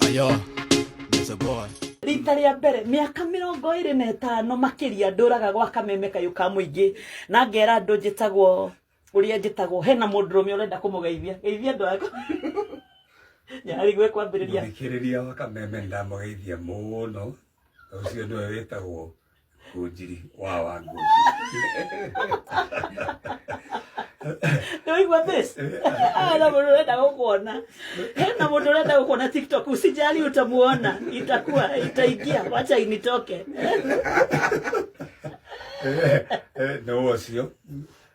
Ayo, there's a boy. rita rĩa mbere mĩaka mĩrongo ĩrĩ na ĩtano makĩria ndũraga gwa kameme kayũ ka mũingĩ na ngera andũ njĩtagwo ũrĩa njĩtagwo hena mũndũrũme ũrenda kũmũgeithia geithia andũ aku nyarĩ gwĩ kwambĩrĩria Mũthikĩrĩria wa kameme nĩ ndamũgeithia mũno. Ũcio nĩwe wĩtagwo Ngũnjiri wa wa ngũnjiri. Nĩwaigua this? Hena mũndũ ũrenda gũkuona. Hena mũndũ ũrenda gũkuona TikTok. Usijali utamuona. Itakuwa itaingia. Wacha initoke. Eh, eh, nĩ ũcio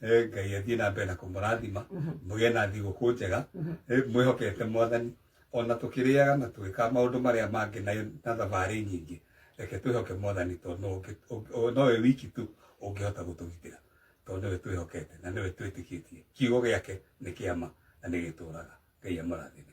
Eh, ngai athiĩ na mbere na kũmũrathima mũgĩe na thigũkũ njega Eh, mwĩhokete mwathani ona tũkĩrĩaga na twĩka maũndũ marĩa mangĩ na na thabarĩ nyingĩ reke twĩhoke mwathani tondũ no ũngĩ- ũngĩ- o- nowe wiki tu ũngĩhota gũtũgitĩra tondũ nĩwe twĩhokete na nĩwe twĩtĩkĩtie kiugo gĩake nĩ kĩama na nĩ gĩtũraga ngai amũrathime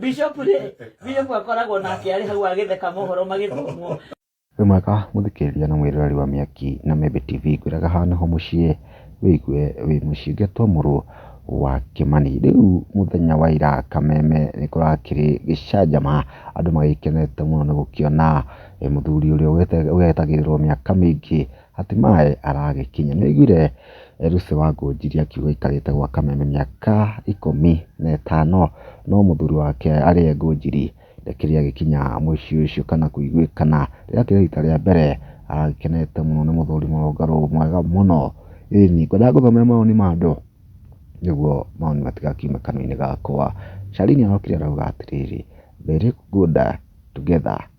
bishop rĩ bishop akoragwo nake arĩ hau agĩtheka mohoro magĩthomwo wĩ mwega mũthikĩrĩria na mwĩroreri wa mĩaki na membe tv ngwĩraga hana ho mũciĩ wĩigue wĩ mũciĩ ngetwo mũrũ wa kĩmani rĩu mũthenya wa ira kameme nĩ kũrakĩrĩ gĩcanjama andũ magĩkenete mũno nĩ gũkĩona eh, mũthuri ũrĩa ũgete- ũgetagĩrĩrwo mĩaka mĩingĩ Hatimaye aragĩkinya. Nĩaiguire Lucy Wangũnjiri akiuga aikarĩte gwa kameme mĩaka ikũmi na ĩtano no mũthuri wake arĩe Ngũnjiri ndakĩrĩ agĩkinya mũciĩ ũcio kana kũiguĩkana. Rĩakĩrĩ rita rĩa mbere aragĩkenete mũno nĩ mũthuri mũrũngarũ mwega mũno. Ĩni, ngwendaga ngũthomere mawoni ma andũ nĩguo mawoni matigakiume kanua-inĩ gakwa. Carine arokire arauga atĩrĩrĩ, Very good together.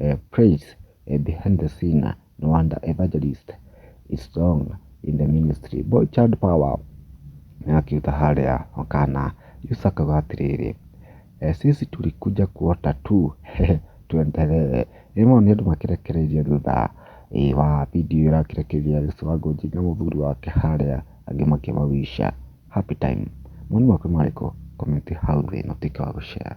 uh, praise uh, behind the scene uh, no wonder evangelist is strong in the ministry boy child power akiuta harĩa wakana yusa akauga atĩrĩrĩ eh, sisi tulikuja kuota tu tuendelee ĩmwe nĩ andũ makĩrekereirie thutha eh, wa video ĩrakĩrekeria Yesu wa Ngoji na mũthuri wake harĩa angĩ makĩmawisha happy time mwoni waku marĩkũ komenti hau thĩ na tuĩke wa gũshare